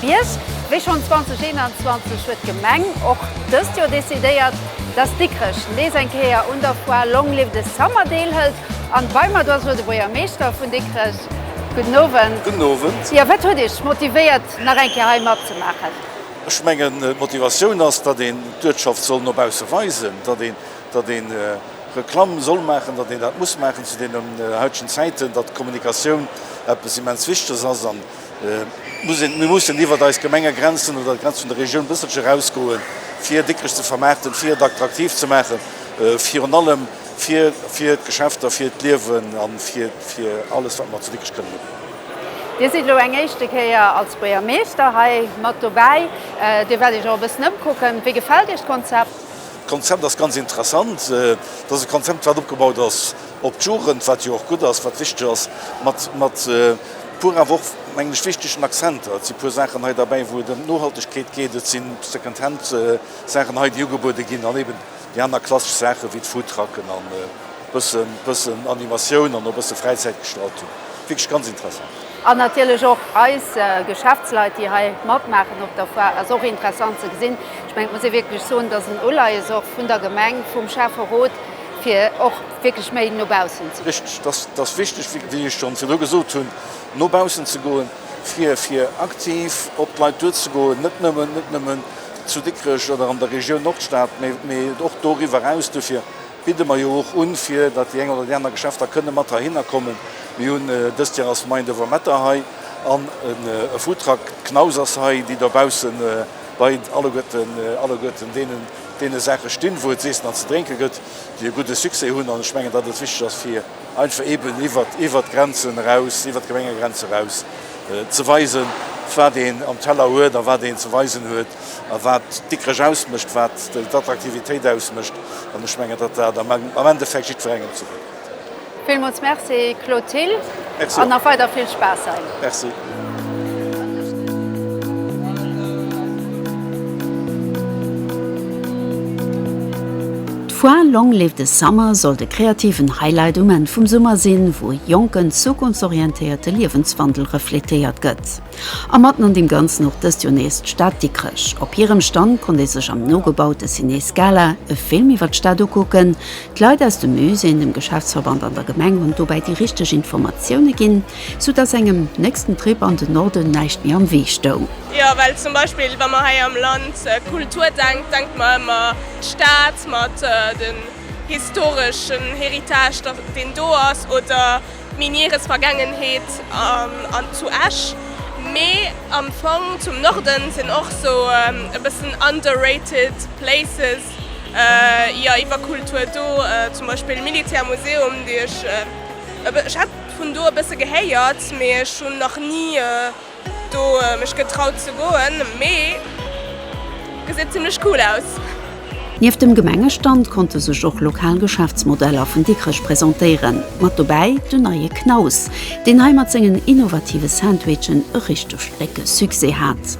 Bierg. Wéi schonn 2021 huet d'Gemeng och dëst Joer decidéiert, dass Dikrech nees eng Kéier un der Foire Long Live the Summer deelhëlt. An bei mer do ass elo de Buergermeeschter vun Dikrech. Gudden Owend. Gudden Owend. Jo, wat huet Iech motivéiert nach eng Kéier hei matzemaachen? Ech mengen d'Motivatioun ass, datt een d'Uertschaft soll no bausse weisen, datt een, datt een Reklamm soll maachen, datt een dat muss maachen zu deenen heitegen Zäiten, datt d'Kommunikatioun eppes immens Wichtiges ass. Mir mussen iwwert eis Gemengegrenzen oder d'Grenz vun der Regioun e bësselche erausgoen, fir Dikrech ze vermaarten, fir et attraktiv ze maachen, virun allem fir d'Geschäfter, fir d'Liewen a fir alles, wat mer zu Dikrech kënnen ubidden. Dir sidd elo eng éischte Kéier als Buergermeeschter hei mat dobäi. Dir wäert Iech och e bëssen ëmkucken. Wéi gefält Iech d'Konzept? D'Konzept ass ganz interessant. Et ass e Konzept, wat opgebaut ass op d'Jugend, wat jo och gutt ass, wat wichteg ass, mat, mat puer awer och, mengen ech, wichtegen Accenter. Et si puer Saachen hei derbäi, wou et ëm d'Nohaltegkeet geet, et si Second-Hand-Saachen hei, déi ugebuede ginn, an eben déi aner klassesch Saachen, wéi d'Foodtrucken an e bësse, bëssen Animatioun an och e bësse Fräizäitgestaltung. Wierklech ganz interessant. An natierlech och eis Geschäftsleit, déi hei matmaachen op der Foire, ass och interessant ze gesinn. Ech mengen, et muss ee wierklech soen, dass en Uleies och vun der Gemeng, vum Schäfferot, fir och wierklech méi no baussen ze goen. Richteg, dat ass wichteg, wéi ech schonn virdru gesot hunn, no baussen ze goen, fir aktiv op d'Leit duerzegoen, net nëmmen zu Dikrech oder an der Regioun Nordstad, mee och doriwwer eraus. Dofir bidde mer jo och un, fir datt déi eng oder déi aner Geschäfter kënne mat heihinner kommen. Mir hunn dëst Joer ass d'Main de Wametter hei an e Foodtruck Knaus ass hei, déi dobausse bei alleguerten deenen, deene Saache stinn, wou et z'iessen an ze drénke gëtt, déi e gudde Succès hunn. An ech mengen, datt et wichteg ass, fir einfach eeben iwwert d'Grenzen eraus, iwwert d'Gemengegrenze eraus ze weisen, wat een am Teller huet a wat een ze weisen huet a wat Dikrech ausmécht, wat d'Attraktivitéit ausmécht. An ech mengen, datt dat am Endeffekt jiddwerengem zougutt kënnt. Villmools Merci Claude Thill an nach weider vill Spaass hei. Merci. D'Foire Long Live the Summer soll de kreativen Highlight um Enn vum Summer sinn, wou e jonken, zukunftsorientéierte Liewenswandel refletéiert gëtt. A matten an deem Ganzen och dëst Joer nees d'Stad Dikrech. Op hirem Stand konnt ee sech am nogebaute Ciné Scala e Film iwwer d'Stad ukucken. D'Leit aus dem Musée, dem Geschäftsverband an der Gemeng hunn dobäi déi richteg Informatioune ginn, sou datt engem nächsten Trip an de Norden näischt méi am Wee stoung. Jo, well zum Beispill wa mer hei am Land Kultur denkt, denkt mer ëmmer d'Stad mat den historeschen Héritage deen do ass oder, Miniere Vergangenheet an zu Esch, mee am Fong zum Norden sinn och sou e bëssen underrated places jo iwwer Kultur do, zum Beispill Militär Museum, déi ech, ech hat vun do e bësse gehéiert, mee ech hunn nach ni. Do mech getraut ze goen, mee geséit zimlech cool aus. Nieft dem Gemengestand konnte sech och lokal Geschäftsmodeller vun Dikrech presentéieren. Mat dobäi den neie Knaus, deen hei mat sengen innovative Sandwichen e richteg décke Succès hat.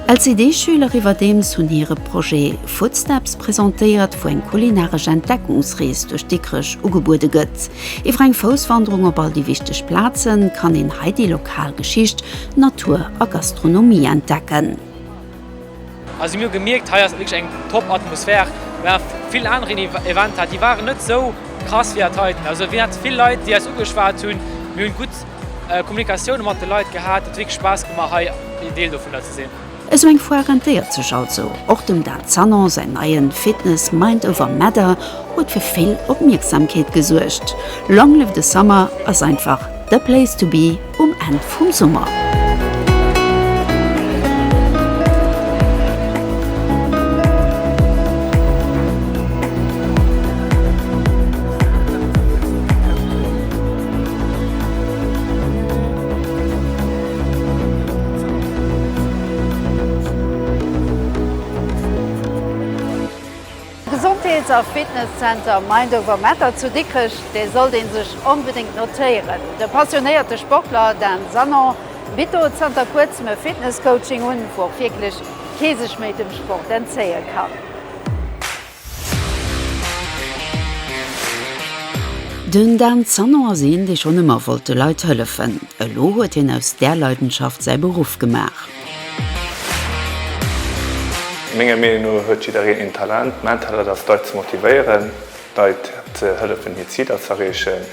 LCD-Schüler iwwerdeems hunn hire Projet Footsteps presentéiert, wou eng kulinaresch Entdeckungsrees duerch Dikrech ugebuede gëtt. Iwwer eng Fousswanderung op all déi wichteg Plazen kann een hei déi lokal Geschicht, Natur a Gastronomie entdecken. A si mir hu gemierkt, hei ass et wierklech eng top Atmosphär. Mir hat vill aner Eventer, déi waren net esou krass wéi dat heiten. Also mir hat vill Leit, déi eis ugeschwat hunn. Mir hunn gutt Kommunikatioune mat de Leit gehat. Et huet wierklech Spaass gemaach hei een Deel dovunner ze sinn. Esou eng Foire rentéiert sech also. Och dem Dan Sanon säin neien Fitness Mind Over Matter huet fir vill Opmierksamkeet gesuergt. Long Live the Summer ass einfach the place to be um Enn vum Summer. Gesondheets a Fitness Center Mind Over Matter zu Dikrech, dee sollt ee sech onbedéngt notéieren. De passionéierte Sportler Dan Sanon bitt do zanter kuerzem e Fitness Coaching un, wou och wierklech kee sech méi dem Sport entzéie kann. Den Dan Sanon ass een, dee schonn ëmmer wollt de Leit hëllefen. Elo huet hien aus där Leidenschaft säi Beruff gemaach. Menger Meenung no huet jiddereen een Talent. Mäin Talent ass, d'Leit ze motivéieren, d'Leit ze hëllefen, hir Ziler ze erreechen.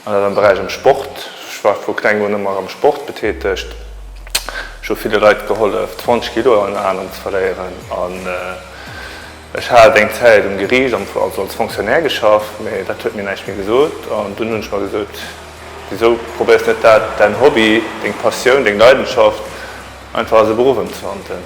An dat am Beräich am Sport. Ech war vu klengem un ëmmer am Sport betätegt. Ech hu ville Leit gehollef, d'Wonschkilo an Aen ze verléieren. Ech hat eng Zäit um Geriicht am Fong also als Fonctionnaire geschafft, mee dat huet mir näischt méi gesot. An dunn hunn ech mer gesot, Wisou probéiers net dat, däin Hobby, deng Passioun, deng Leidenschaft einfach als e Beruff ëmzewandelen?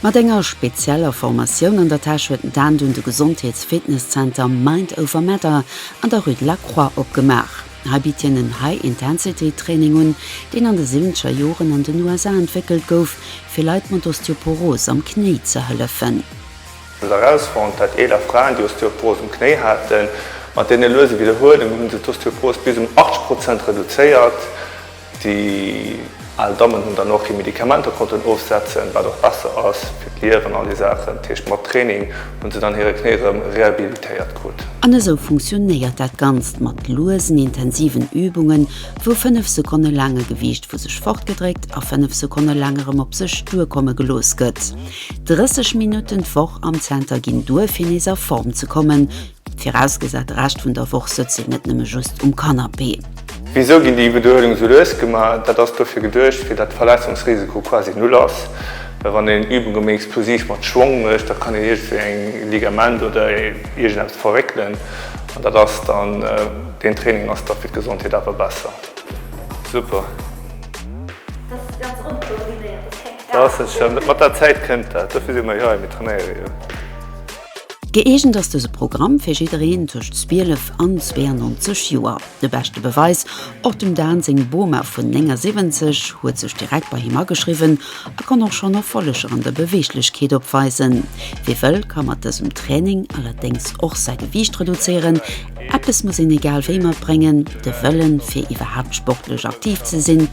Mat enger spezieller Formatioun an der Täsch huet d'Anne dunn de Gesondheets-Fitness-Zenter Mind Over Matter an der Rue de la Croix opgemaach. Hei bitt hien en High-Intensity-Training un, deen an de siwwenzeger Joren an den USA entwéckelt gouf, fir Leit mat Osteoporos am Knéi ze hëllefen. Hunn se erausfonnt, dat eeler Fraen, déi Osteoporos um Knéi haten, mat deene luese Widderhuelunge hunn se d'Osteoporos bis um 80 Prozent reduzéiert. Déi al Dammen hunn dann och hir Medikamenter konnten ofsetzen, wat och besser ass fir d'Nieren an all déi Saachen. Dat heescht, mat Training hunn se dann hire Knéi erëm rehabilitéiert krut. An esou funktionéiert dat Ganzt mat luesen, intensiven Übungen, wou 5 Sekonne laang e Gewiicht vu sech fortgedréckt a 5 Sekonne laang erëm op sech duerkomme gelooss gëtt. 30 Minutten d'Woch am Zenter ginn duer, fir nees a Form ze kommen, Virausgesat de Rescht vun der Woch sëtzt een net nëmme just um Kannapee. Wisou ginn déi Beduedung esou lues gemaach? Dat ass dofir geduecht, fir datt de Verletzungsrisiko quasi null ass. Well wann een Übunge méi explosiv mat Schwong mécht, da kann een iergendwéi eng Ligament oder iergendeppes verréckelen an dat ass dann, deen Training ass da fir d'Gesondheet awer besser. Super. Mat der Zäit kënnt dat. Dofir si mer jo hei, mir trainéiere jo. Gëeegent ass dëse Programm fir jiddereen tëscht 12 an 92 Joer. De beschte Beweis, och dem Dan seng Boma vun 79 huet sech direkt bei him ageschriwwen a kann och schonn Erfolleger an der Beweeglechkeet opweisen. Wie wëll, ka mat dësem Training allerdéngs och säi Gewiicht reduzéieren. Eppes muss een egal wéi matbréngen, de Wëllen, fir iwwerhaapt sportlech aktiv ze sinn.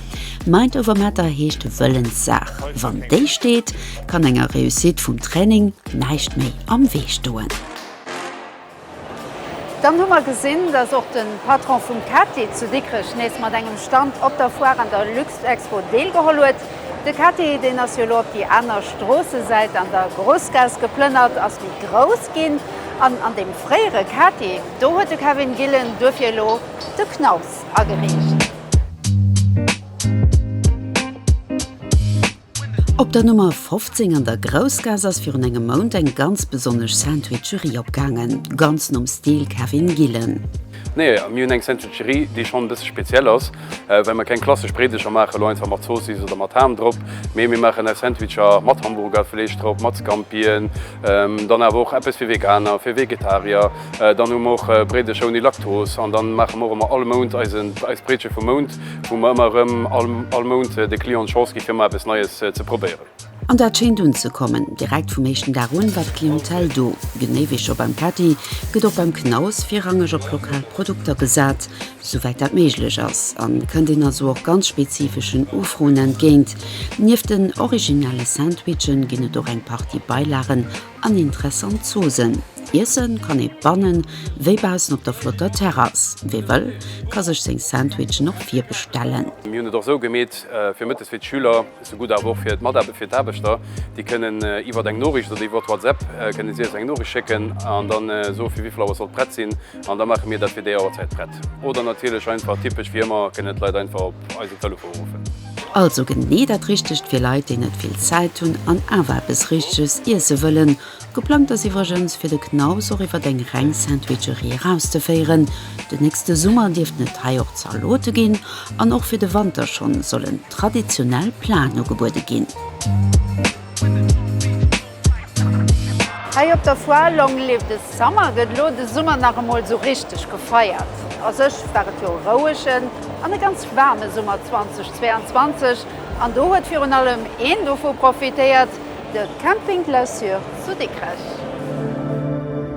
Mind over matter heescht d'Wëllenssaach, wann déi steet, kann enger Réussite vum Training, Näischt méi am Wee stoen. Dann hu mer gesinn, dass och de Patron vum Cathy zu Dikrech nees mat engem Stand op der Foire an der Luxexpo deelgeholl huet. De Cathy, deen ass jo elo op déi aner Stroossesäit an der Groussgaass geplënnert, ass méi grouss ginn. An an deem fréiere Cathy, do huet de Kevin Gillen duerfir elo de Knaus ageriicht. Op der Nummer 15 an der Groussgaass ass virun engem Mount eng ganz besonnesch Sandwicherie opgaangen, ganz nom Stil Kevin Gillen. Nee, mir hunn eng Sandwicherie, déi schonn e bësse speziell ass, well mer keng klassesch Bréideger maachen, elo einfach mat Zoossiss oder mat Ham drop, mee mir maachen eis Sandwicher mat Hamburgerfleesch drop, mat Scampien, dann awer och eppes fir Veganer, fir Vegetarier, dann hu mer och Bréideger ouni Laktos an dann maache mer och ëmmer all Mount eis Bréidche vum Mount. wou mer ëmmer erëm all Mount de Clienten d'Chance gi fir emmer eppes Neies ze probéieren. An dat schéint unzekommen. Direkt vum éischten Dag un war d'Clientèle do. Genee wéi scho beim Pätti gëtt och beim Knaus virrangeg op lokal Produkter gesat, souwäit dat méiglech ass, a kënnt een also och ganz spezifeschen Ufroen entgéint. Nieft den originelle Sandwichen ginn et och eng Partie Beilagen An interessant Zoosen. Iessen kann ee bannen wéi baussen op der flotter Terrass. Wee wëll, ka sech seng Sandwichen och virbestellen. Mir hunn et och sou gemeet fir mëttes fir d'Schüler, sou gutt awer och fir d'Mataarbechter, fir d'Aarbechter. Déi kënnen iwwert eng Noriicht oder iwwert WhatsApp kënnen si eis eng Noriicht schécken an da soe fir wéivill Auer sollt prett sinn an da maache mir dat fir déi Auerzäit prett. Oder natierlech einfach typesch wéi ëmmer kënnen d'Leit einfach op eisen Telefon ruffen. Also genee dat Richtegt fir Leit, déi net vill Zäit hunn an awer eppes Richteges iesse wëllen. Geplangt ass iwwregens, fir de Knaus och iwwer eng reng Sandwicherie erauszeféieren. Den nächste Summer dierften et hei och Zalote ginn an och fir de Wanter schonn sollen traditionell Platen ugebuede ginn. Hei op der Foire Long Live the Summer gëtt elo de Summer nach emol esou richteg gefeiert. A sech war et jo e rouegen an e ganz waarme Summer 2022 an do huet virun allem een dovu profitéiert, de Camping Clausure zu Dikrech.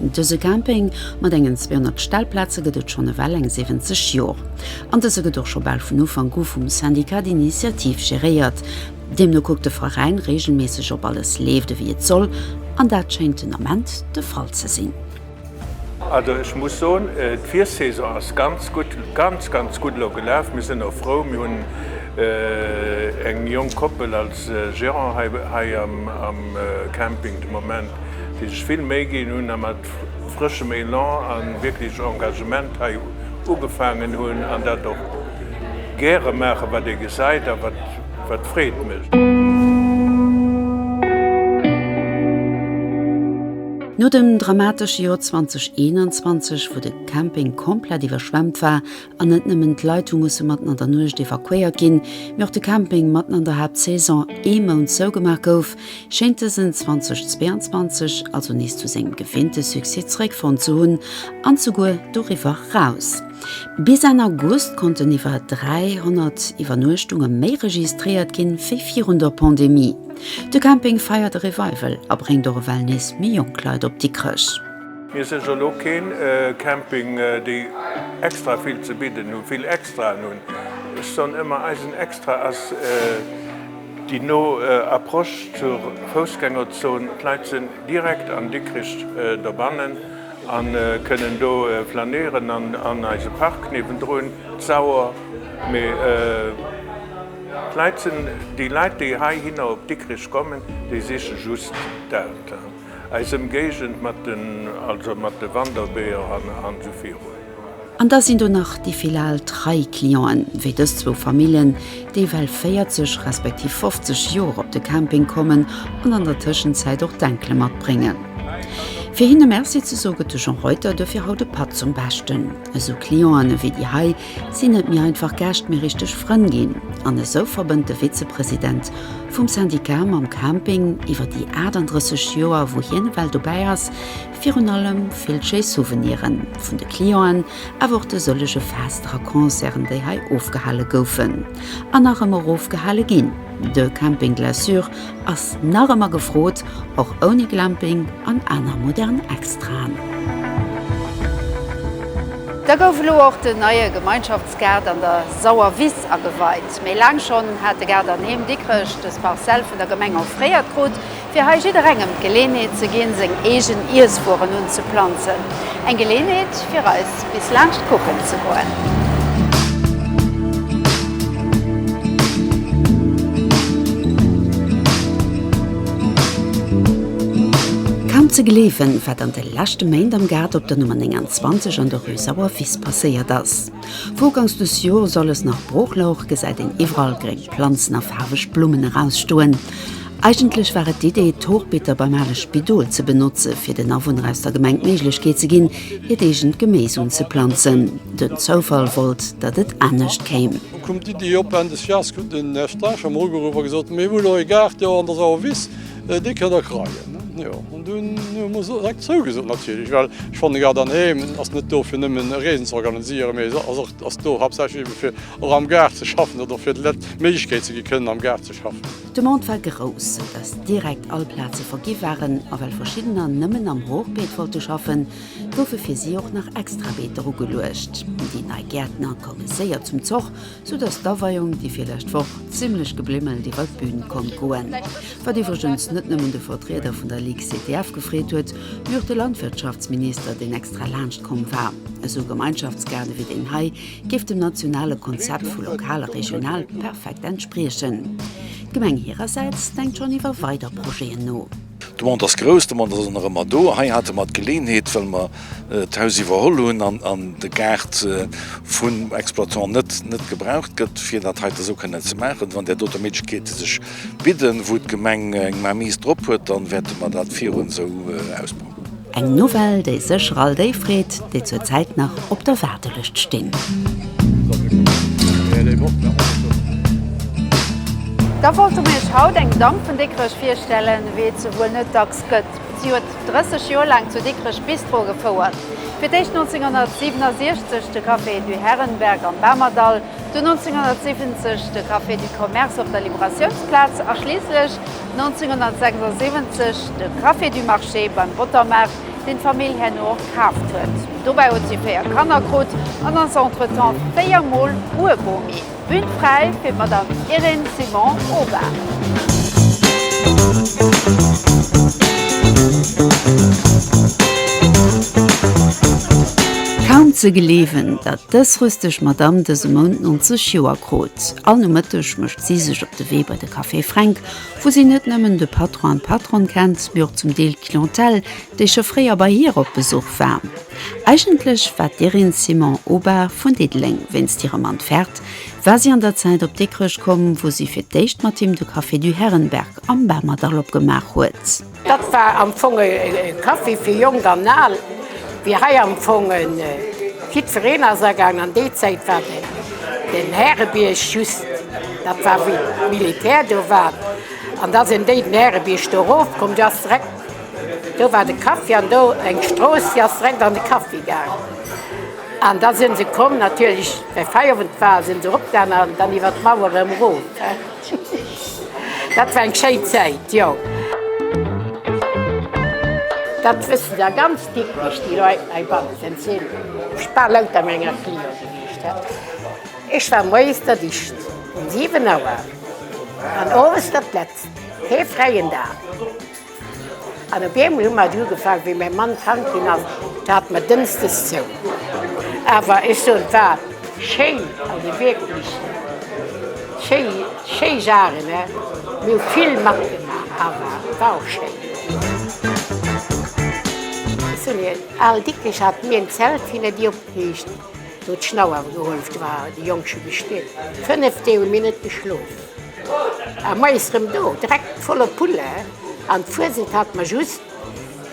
Dëse Camping mat engen 200 Stellplaze gëtt et schonn ewell eng 70 Jor. An dëse gëtt och scho bal vun Ufank u vum Syndicat d'Initiative geréiert. Deemno kuckt de Veräin reegelméisseg op alles leeft ewéi et soll, an dat schéint den Ament de Fall ze sinn. Also ech muss soen, d'Virsaison ass ganz gutt, ganz ganz gutt elo gelaf. Mir sinn och frou, mir hunn eng jonk Koppel als Gérant hei am Camping de Moment. déi sech vill Méi ginn hunn a mat frëschem Elan a wierklech Engagement hei ugefaangen hunn an dat och gäre maachen, wat ee gesäit a wat Freed mécht. No dem dramatesche Joer 2021, wou de Camping komplett iwwerschwemmt war, An net nëmmen d'Leit hu musse matten an der Nuecht evakuéiert ginn, mee och de Camping matten an der Haaptsaison ee Mount zougemaach gouf, schéint dësen 2022 also nees zu sengem gewinnte Succès zeréckfonnt ze hunn an souguer doriwwer raus. Bis Enn August konnten iwwer 300 Iwwernuechtunge méi registréiert ginn, wéi virun der Pandemie. De Camping feiert e Revival a bréngt och ewell nees méi jonk Leit op Dikrech. Mir sinn jo elo keen Camping déi extra vill ze bidden hunn, vill Extraen hunn. Ech soen ëmmer, eisen Extra ass déi no Approche zur Foussgängerzon. D'Leit sinn direkt an Dikrich dobannen a kënnen do flanéieren an eise Park niewendrun, d'Sauer. Mee d'Leit sinn, déi Leit déi heihinner op Dikrich kommen, déi siche just dat. Eis Emgéigend mat den, also mat de Wanderweeër an esou virun. An da sinn do nach déi vill al trei Clienten, wéi dës zwou Famillen, déi well 40 respektiv 50 Joer op de Camping kommen an an der Tëschenzäit och d'Enkele matbréngen. Fir hinne Merci ze soe gëtt de Jean Reuter dofir haut e Patt zum Beschten. Esou Clienten ewéi déi hei Sinn net méi einfach Gäscht, mee richteg Frënn ginn. An esou verbënnt de Vizepresident vum Syndicat mam Camping iwwer déi 38 Joer, wou hien ewell dobäi ass, virun allem vill schéi Souveniren vun de Clienten, awer och de sëllege Fester a Concerten, déi hei ofgehale goufen an nach ëmmer ofgehale ginn. De Camping Glaçure ass nach ëmmer gefrot, och ouni Glamping an aner modern Extraen. Da gouf elo och den neie Gemeinschaftsgaart an der Sauer Wiss ageweit. Méi laang schonn hat de Gaart an Heem Dikrech dës Parcelle vun der Gemeng offréiert krut. Fir hei jidderengem d'Geleeënheet ze ginn, seng eegen Iesswueren unzeplanzen. Eng Geleeënheet fir eis bis laanscht kucken ze goen. Kaum ze gleewen, wat an de leschte Méint am Gaart op der Nummer 29 an der Rue Sauer Wiss passéiert ass. Wougangs des Jors alles nach brooch louch, gesäit een iwwerall gréng Planzen a faarweg Blummen erausstoen. Eigentlech war et d'Idee, d'Hochbeeter beim ale Spidol ze benotze fir den Awunner aus der Gemeng d'Méiglechkeet ze ginn, hiert eegent Geméis unzeplanzen. Den Zoufall wollt, datt et anescht kéim. Lo koum d'Idee op, Enn des Jahrs krut den Här Strascher em ugeruff a gesot, Mir hu lo ee Gaart do an der Sauer Wiss, dee kënnt Der kreien. Jo, an dunn hu mer direkt zougesot natierlech, well ech fannen, e Gaart an Heem ass net do fir nëmmen e Reesen ze organiséieren, mee ass och, ass do haaptsächlech ebe fir och am Gaart ze schaffen oder fir de Leit d'Méiglechkeet ze gi kënnen am Gaart ze schaffen. D'Demande war grouss, sou dass direkt all Plaze vergi waren, a well verschiddener nëmmen am Hochbeet wollte schaffen, goufe fir si och nach extra Beeter ugeluecht. Déi nei Gäertner koume séier zum Zoch, sou dass d'Aweiung déi virlescht Woch zimmlech geblimmelt iwwer d'Bün konnt goen, wat iwwregens net nëmmen de Vertrieder vun der Ligue CTF gefreet huet, mee och de Landwirtschaftsminister, deen extra laanscht komm war. Esou Gemeinschaftsgaarde wéi deen hei géif dem nationale Konzept vu lokal a regional perfekt entspriechen. D'Gemeng hirersäits denkt schonn iwwer weider Projeten no. D'Demande ass grouss, d'Demande ass och nach ëmmer do. Hei hate mer d'Geleenheet, well mer d'Haus iwwerholl hunn an de Gaart vum Exploitant net net gebraucht gëtt, fir dat heiten esou kënnen ze maachen. Wann där dote Méiglechkeete sech bidden, wou d'Gemeng eng Mainmise drop huet, da wäerte mer dat virun esou ausbauen. Eng Nouvelle, déi sécher all déi freet, déi zur Zäit nach op der Waardelëscht stinn. Da wollte mir iech haut eng Damm vun Dikrech virstellen, wéi et se wuel net dacks gëtt. Si huet 30 Joer laang zu Dikrech Bistro gefouert. Fir d'éischt 1967 de Café du Herrenberg am Bamerdall, dunn 1970 de Café du Commerce op der Liberatiounsplaz a schliisslech, 1976 de Café du Marché beim Bottermaart, deen d'Famill herno och kaaft huet. Dobäi huet si véier Kanner krut an ass entretemps véier Mol Uebomi. Bühn fräi fir d'Madame Irène Simon, ober. Kaum ze gleewen, datt dës rüsteg Madame dëse Mount 90 Joer krut. All Nomëtteg mécht si sech op de Wee bei de Café Fränk, wou si net nëmmen de Patron an d'Patronne kennt, mee och zum Deel d'Clientèle, déi scho fréier bei hir op Besuch war. Eigentlech war d'Irène Simon Aubin vun Diddeleng. Wéinst hirem Entfert war si an der Zäit op Dikrech komm, wou si fir d'éischt mat him de Café du Herrenberg am Bamerdall opgemaach huet. Dat war am Fong e Café fir Jonk an Al, wéi hei am Fong jiddwereen ass agaang. An déi Zäit war den Härebierg just, dat war wou d'Militär do war, an da sinn déi den Härebierg do erof komm, do ass direkt, do war de Café an do eng Strooss, déi ass direkt an de Café gaang. An da si se komm natierlech, well Feierowend war, si se eropgaangen an dann iwwer d'Mauer erëm erof. Dat war eng schéi Zäit, jo. Dat wësse der ganz Dikrech, déi Leit heibannen sinn bal louter menger Cliente gewiescht. Ech war moies der Dicht, um 7 Auer, an owes der d'Letzt, kee fräien Dag. An op eemol hu mer et ugefaangen, wéi mäi Mann krank ginn ass, da hate mer dënnsdes zou. Awer ech soen, et war schéin, also wierklech schéi, schéi Sachen, mir hu vill matgemaach, awer et war och schéin. Ech soen Iech, al Dikrich hat mir en Zelt hinne Dir opgeriicht, wou d'Schnauer geholleft war, déi Jonk scho gestillt. Fënnef Deeg hu mir net geschlof. A moies rem do, dreck voller Pulle, an d'Fuesent hat mer just,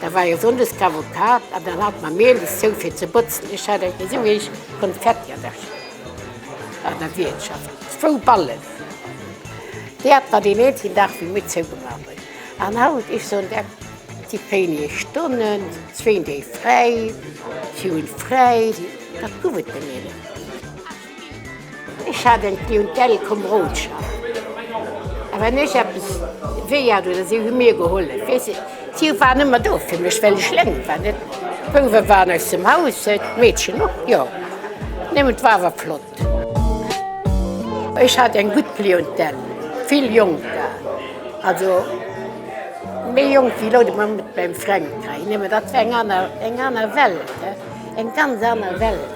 da war jo Sonndes Cavucade, an dann hat mer Mehl is zou fir ze botzen. Ech hat eng esou eech Konfetti an der an der Wiertschaft, zwou Ballen, déi hat mer deen eenzegen Dag wéi mir zou gemach hun. An haut, ech soen der, si wéinege Stonnen, zwéin Déi fräi, si hun fräi, wat guff et de Mehl? Ech hat eng Clientèle komm Roodschap, a wann ech eppes wéi hat oder si hu mir gehollef, weess de, si waren ëmmer do fir mech, well ech lénk war, net? D'Bouwe waren aus dem Haus, d'Meedchen och, jo, nëmmen et war awer flott. Ech hat eng gutt Clientèle, vill Jonker, also méi jonk wéi elo de Mann mat mengem Fränk hei, nëmmen dat war eng aner, eng aner Welt, eng ganz aner Welt.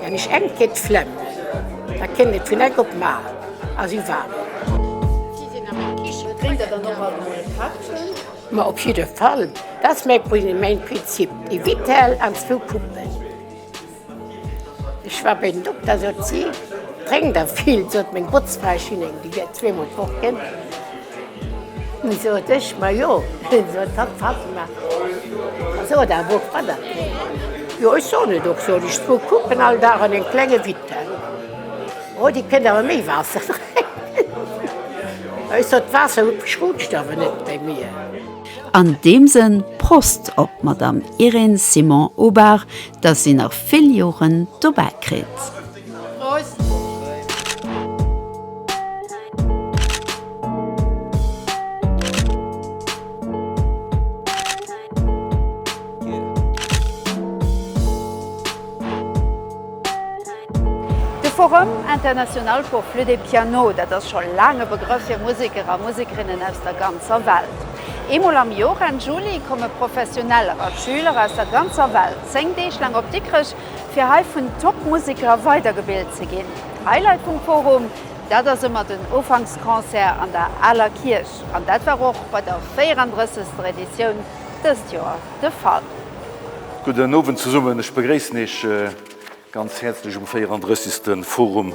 Wann ech enk gét d'Flemm. Da kénnt et vun enk op mar a si warm. Si sin am eng Kichen. Drénkt der dann och alt mol e Pättchen? Ma op jidde Fall, dat as main Prinzip, e Vitell an zwou Puppen. Ech war bei den Dokter, sot si, drénkt der vill, sot meng Botzfrau, ech hun eng, di gét zweemol fort, gin. Nun sot ech, Ma jo, hien sot, Papp, Papp, ma sot awer och wann. Jo, ech soen et och, sot ech, zwou Puppen all Dag an en klenge Witte. Oh, dee kënnt awer méi Waasser drénken. Ech sot, D'Waasser schrutscht awer net bei mir. An deem Sënn, Prost op d'Madame Irène Simon-Aubard, dass si nach vill Joren dobäi kritt. De Forum international pour flûte et piano, dat ass scho laang e Begrëff fir Museker a Musekerinnen aus der ganzer Welt. Eemol am Jor, Enn Juli, komme Professioneller a Schüler aus der ganzer Welt 10 Deeg laang op Dikrech fir hei vun Top Museker weidergebilt ze ginn. Highlight vum Forum, dat ass ëmmer den Ufanksconcert an der Aler Kierch an dat war och bei der 34. Editioun dëst Joer de Fall. Gudden Owend zesummen, ech begréissen Iech ganz häerzlech um 34. Forum.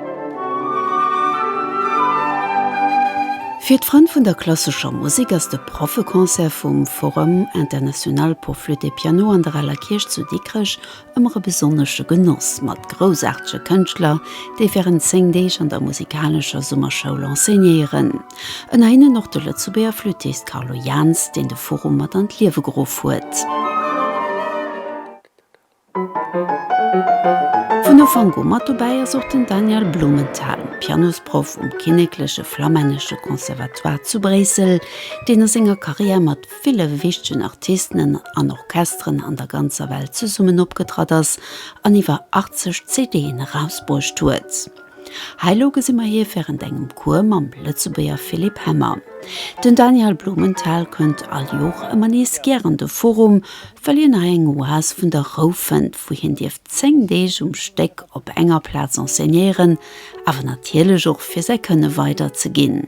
Fir d'Frënn vun der klassescher Musek ass de Proffeconcert vum Forum International pour Flûte et Piano an der Aler Kierch zu Dikrech ëmmer e besonnesche Genoss, mat groussaartege Kënschtler, déi wärend 10 Deeg an der musikalescher Summerschoul enseignéieren. Ënner hinnen och de Lëtzebuerger Flüttist Carlo Jahns, deen de Forum mat an d'Liewe geruff huet. Vun Ufank u mat dobäi ass och den Daniel Blumenthal, Pianosproff um kinnekleche flamännesche Conservatoire zu Bréissel, deen a senger Karriär mat ville wichtegen Artisten an Orchesteren an der ganzer Welt zesummen opgetratt ass an iwwer 80 CD'en erausbruecht huet. Hei lo gesi mer hie während engem Cours mam Lëtzebuerger Philippe Hemmer. Den Daniel Blumenthal kënnt all Jor ëmmer nees gär an de Forum, well hien hei eng Oas vun der Rou fënnt, wou hien dierf 10 Deeg um Stéck op enger Plaz enseignéieren, awer natierlech och fir säi Kënne weider ze ginn.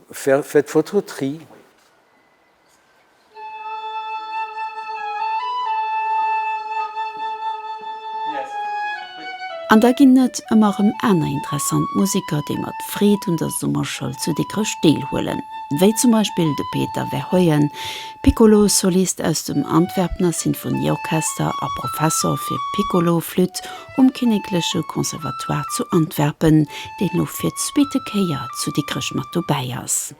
Fir d'Foto Tri. An da ginn et ëmmer rëm aner interessant Museker, déi mat Freed un der Summerschoul zu Dikrech deelhuelen, wéi zum Beispill de Peter Verheugen, Piccolo-Solist aus dem Antwerpener Sinfonieorchester a Professor fir Piccolo-Flütt Um Kinnekleche Conservatoire zu Antwerpen, deen elo fir d'zweete Kéier zu Dikrech mat dobäi ass.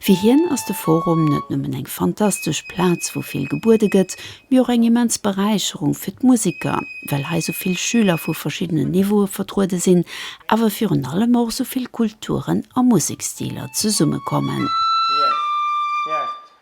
Fir hien ass de Forum net nëmmen eng fantastesch Plaz, wou vill gebuede gëtt, mee och eng immens Beräicherung fir d'Museker, well hei sou vill Schüler vu verschiddenen Niveaue vertruede sinn, awer virun allem och sou vill Kulturen a Musekstiler zesummekommen.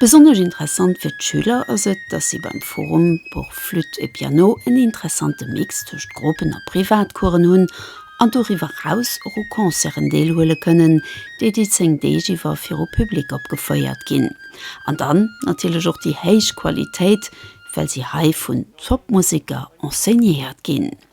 Besonnesch interessant fir d'Schüler ass et, dass si beim Forum pour Flûte et Piano en interessante Mix tëscht Gruppen a Privatcoursen hunn an doriwwer eraus och u Concerten deelhuele kënnen, déi déi 10 Deeg iwwer viru Public opgefouert ginn. An dann natierlech och déi héich Qualitéit, well si hei vun Top-Museker enseignéiert ginn.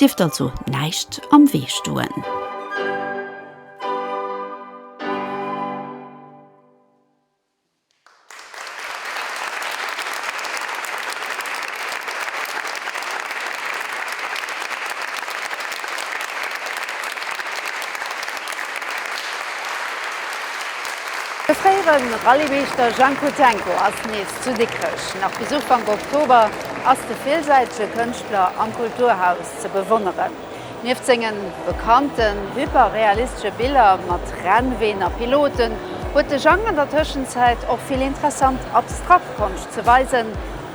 Dierft also näischt am Wee stoen. De fréiere Rallye-Meeschter Jean Kutsenko ass nees Zu Dikrech, nach bis Ufank Oktober, ass de villsäitege Kënschtler am Kulturhaus ze bewonneren. Nieft sengen bekannten hyperrealistesche Biller mat Rennween a Piloten, huet de Jang an der Tëschenzäit och vill interessant abstrakt Konscht ze weisen.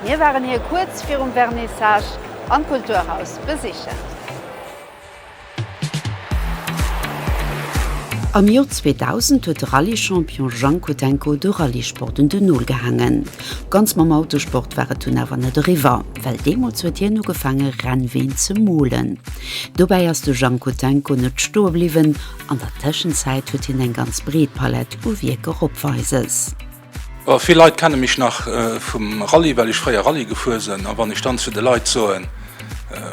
Mir waren hie kuerz virum Vernissage am Kulturhaus besichen. Am Joer 2000 huet de Rallye-Champion Jhang Kotenko de Rallye-Sport un den Nol gehaangen. Ganz mam Autosport war et dunn awer net eriwwer, well deemools huet hien ugefaange Rennween ze molen. Dobäi ass de Jhang Kotenko net stoe bliwwen, an der Tëschenzäit huet hien eng ganz breet Palett u Wierker opweises. Vill Leit kenne mech nach vum Rallye, well ech fréier Rallye gefuer sënn. A wann ech dann zu de Leit soen,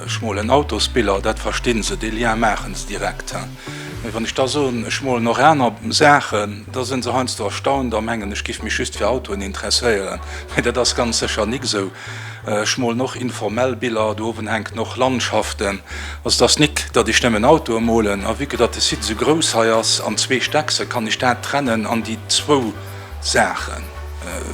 ech molen Autosbiller, dat verstinn se, dee Lien maachen se direkt. Mee wann ech da soen, ech molen och aner Saachen, da sinn se heiansdo erstaunt a mengen, ech géif mech just fir Autoen interesséieren. Mee dat ass ganz sécher nik esou. Ech molen och informell Biller, do owen hänken och Landschaften. Also d'ass nit datt ech nemmen Autoe molen, a vue que datt de Site esou grouss hei ass an zwee Steckse kann ech dat trennen an déi zwou Saache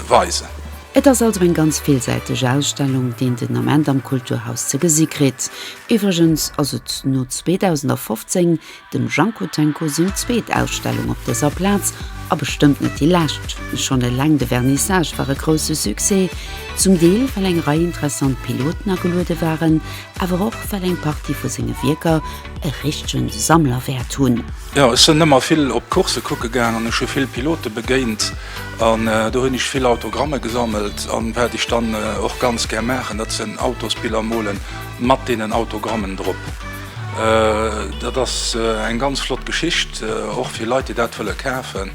weisen. Et ass also eng ganz villsäiteg Ausstellung deen den Ament am Kulturhaus ze gesi kritt. Iwwregens ass et no 2015 Dem Jean Kotenko seng zweet Ausstellung op dëser Plaz, a bestëmmt net déi lescht. Schonn eleng de Vernissage war e grousse Succès, zum Deel well eng Rei interessant Piloten ageluede waren, awer och well eng Partie vu senge Wierker e richtege Sammlerwäert hunn. Jo, ech sinn ëmmer vill op d'Coursse kucke gaang an ech hu vill Pilote begéint an do hunn ech vill Autogramme gesammelt. A wat ech dann och ganz gär maachen, dat sinn Autosbiller mole mat deenen Autogrammen drop. Dat ass eng ganz flott Geschicht, och fir Leit, déi dat wëlle kafen,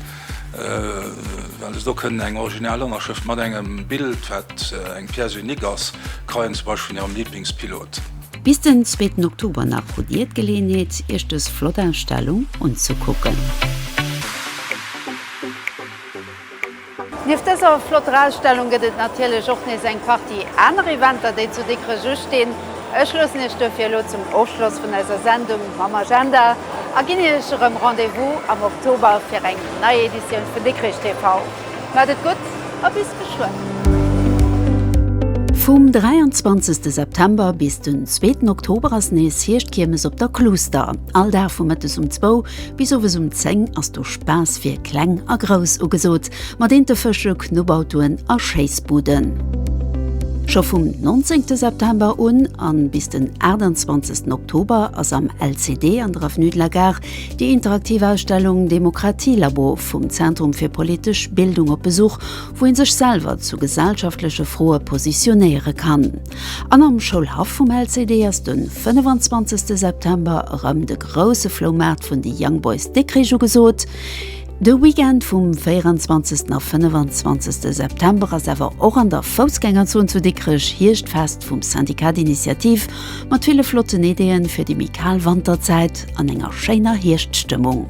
well se do kënnen eng original Ënnerschrëft mat engem Bild, wat eng Pièce unique ass, kreien, zum Beispill vun hirem Liiblingspilot. Bis den zweeten Oktober nach hutt Dir d'Geleeënheet, Iech dës flott Ausstellung unzekucken. Nieft dëser flotter Ausstellung gëtt et natierlech och nees eng Partie aner Eventer, déi zu Dikrech ustinn. Ech loossen Iech duerfir elo zum Ofschloss vun eiser Sendung mam Agenda a ginn Iech erëm Rendez-vous am Oktober fir eng nei Editioun vun Dikrech TV. Maacht et gutt a bis geschwënn! Vum 23 September bis den zweeten Oktober ass nees Hierschtkiermes op der Cluster. All Dag vu mëttes um zwou Bis owes um 10 ass do Spaass fir Kleng a Grouss ugesot, mat Intefësche, Knubbautoen a Schéissbuden. Scho vum 19 de September un an bis den 28 den Oktober ass am LCD an der Avenue de la Gare déi interaktiv Ausstellung Demokratielabo vum Zentrum fir politesch Bildung op Besuch, wou ee sech selwer zu gesellschaftleche Froe positionéiere kann. An am Schoulhaff vum LCD ass den 25 September erëm de grousse Floumaart vun de Young Boys Dikrich ugesot. De Weekend vum 24 a 25 September ass awer och an der Foussgängerzon zu Dikrech Hierschtfest vum Syndicat d'Initiative mat ville flotten Ideeën fir déi méi kal Wanterzäit an enger schéiner Hierschtstëmmung.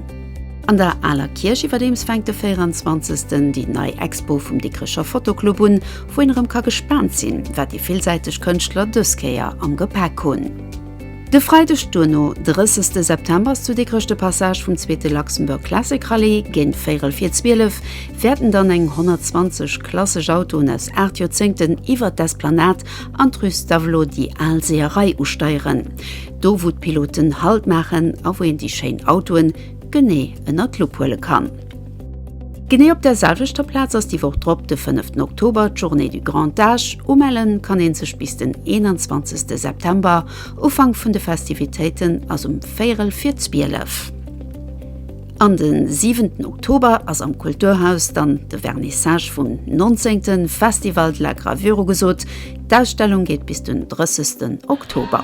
An der Aler Kierch iwwerdeems fänkt de 24 déi nei Expo vum Dikrecher Fotoclub un, Wou een erëm ka gespaant sinn, wat déi villsäiteg Kënschtler dës Kéier am Gepäck hunn. De Freideg duerno, 30 de September, ass zu Dikrech de Passage vum zweete Luxembourg Classic Rallye. Géint véierel vir 12 wäerten dann eng 120 klassesch Autoen aus 8 Joerzéngten iwwert d'Esplanade an d'Rue Stavelot, déi al Seeërei, usteieren. Do, wou d'Piloten Halt maachen a wou een déi schéin Autoen genee ënner d'Lupp huele kann. Genee op der selwechter Plaz ass déi Woch drop, de fënneften Oktober, d'Journée du Grand Âge. Umellen kann een sech bis den 21 September. Ufank vun de Festivitéiten ass um véierel vir 12. An de siwenten Oktober ass am Kulturhaus dann de Vernissage vum 19. Festival de la Gravure ugesot. D'Ausstellung geet bis den 30 Oktober.